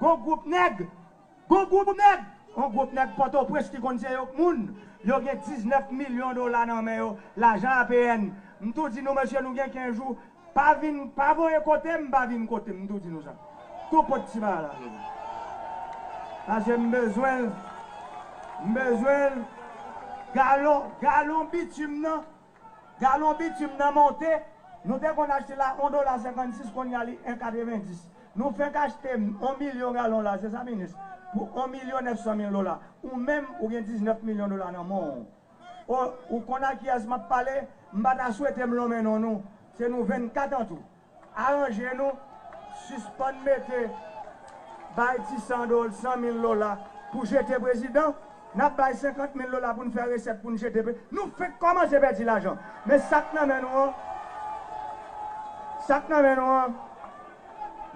Gon group nèg, gon group nèg, yon group nèg pòtoprens ki konn se yo k moun, yo gen 19 milyon dola nan men yo, lajan APN. M tou di nou mesye nou gen 15 jou, pa vin, pa voye kote m, pa vin kote m, m tou di nou sa. Tou pot ti bagay la nou. Pase m bezwen l, m bezwen l, galon, galon bitum nan. Galon bitum nan monte, nou te konn achte la 1 dola 56 konnya li 1 90. Nou fenk achte 1 milyon galon la, se sa minis? Pou 1 milyon 900 mil dola. Ou menm ou gen 19 milyon dola nan men w. O, ou konn a kiyès m ap pale? M pa ta swete m lonmen non nou. Se nou 24 an tou. Aranje nou, sispann mete bay ti san dol, san mil lola pou jete prezidan, nap bay 50 mil lola poun fè resèt poun jete pre, nou fenk kòmanse pèdi lajan men sak nan men nou an, sak nan men nou an,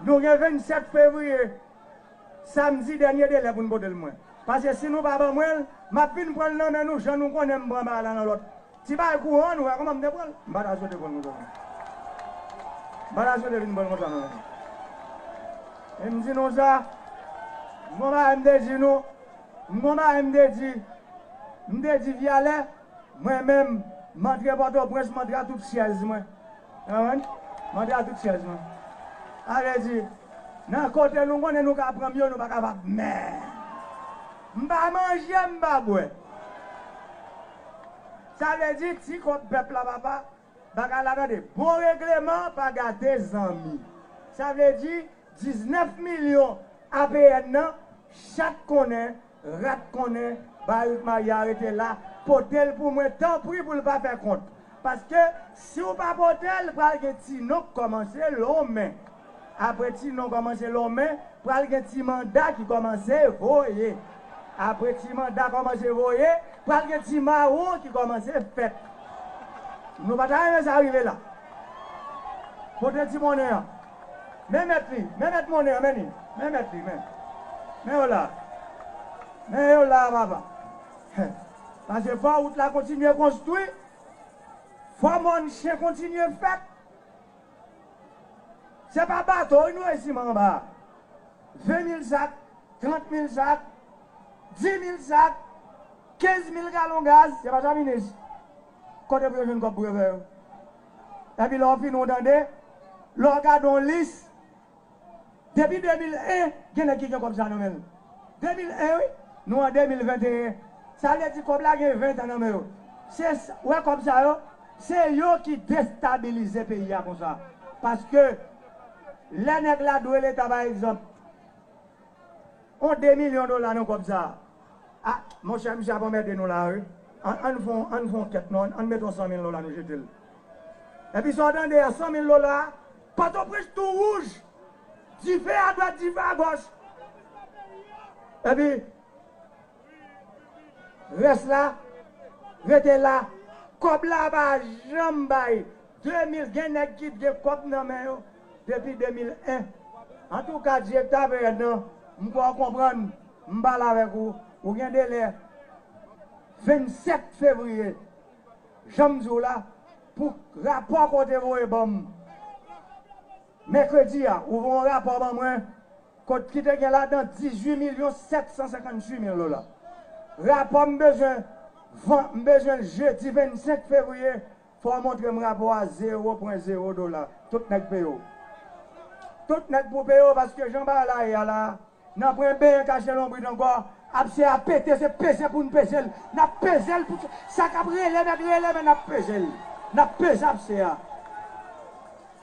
nou gen 27 fevriye samdi dènye delè poun potel mwen, pase si nou pa ban mwenl map vin pranl nan men nou jan nou konnenm pran bagay la nan lòt Ti bagay kouran nou wè kòman m te pran l. M pa ta swete pran l konsa non. M pa ta swete vin pran l konsa non. E m di nou sa, m gon bagay m te di nou, m gon bagay m te di, m te di Vyalè, mwen menm, m antre Pòtoprens, m antre a tout syèz mwen. Konprann? M antre a tout syèz mwen. Sa vle di, nan kote nou konnen nou ka pran m yo, nou pa kapab. Men, m pa manje, m pa bwè. Sa vle di ti kont pèp la papa bagay la tande bon regleman pa gate zanmi sa vle di 19 milyon APN nan chat konnen rat konnen barik maria rete la potel pou mwen tanpri poul pa fè kont paske siw pa potel pral gen ti non k kòmanse lonmen. Apre ti non kòmanse lonmen, pral gen ti manda ki kòmanse voye. Apre ti manda kòmanse voye, pral gen ti mawon ki kòmanse fèt. Nou pa ta renmen sa rive la? Pote ti monnen an. Men mèt li. Men mèt monnen an. Men li. Men mèt li. Men. Men yo la. Men yo la, papa. Pase fò wout la kontinye konstwi. Fò mòn chen kontinye fèt. Se pa bato wi nou estime anba 20 mil sak, 30 mil sak, 10 mil sak, 15 mil galon gaz, se pa sa minis? Kote pou yo jwenn kòb pou yo fè yo? Epi lè w fin ou tande, lè w gade yon lis Depi 2001 gen nèg ki gen kòb sa nan menl 2001 wi nou an 2021 sa vle di kòb la gen 20 tan nan men yo se wè kòb sa yo se yo ki destabilize peyi a konsa paske lè nèg la dwe leta pa egzanp on 2 milyon dola nan kòb sa a monchè misye ap anmède nou la wi ann fon ann fon kèt non ann met on 100 mil dola nou jetel epi sa w tande a 100 mil dola. Pòtoprens tou wouj, dife a dwat dife a gòch. Epi rès la rete la. Kòb la pa janm bay 2000 gen nèg ki t gen kòb nan men yo depi 2001 antouka direkta pnh nan m kwè w konprann m pale avèk ou ou gen delè 27 fevriye Janm di w la pou rapò ke w te voye ban m mèkredi a, ou voye yon rapò ban mwen kot ki te gen ladan 18 milyon 758 mil dola. Rapò m bezwen van m bezwen l jedi 25 fevriye, fò w montre m rapò a zewo pwen zewo dola. Tout nèg peye w. Tout nèg pou peye w paske jan bagay la ye a la a. Nan pwen benyen kache lonbrit ankò Abse a pete se peze pou n peze l N ap peze l pou sa k ap rele mèt rele men n ap peze l N ap peze abse a.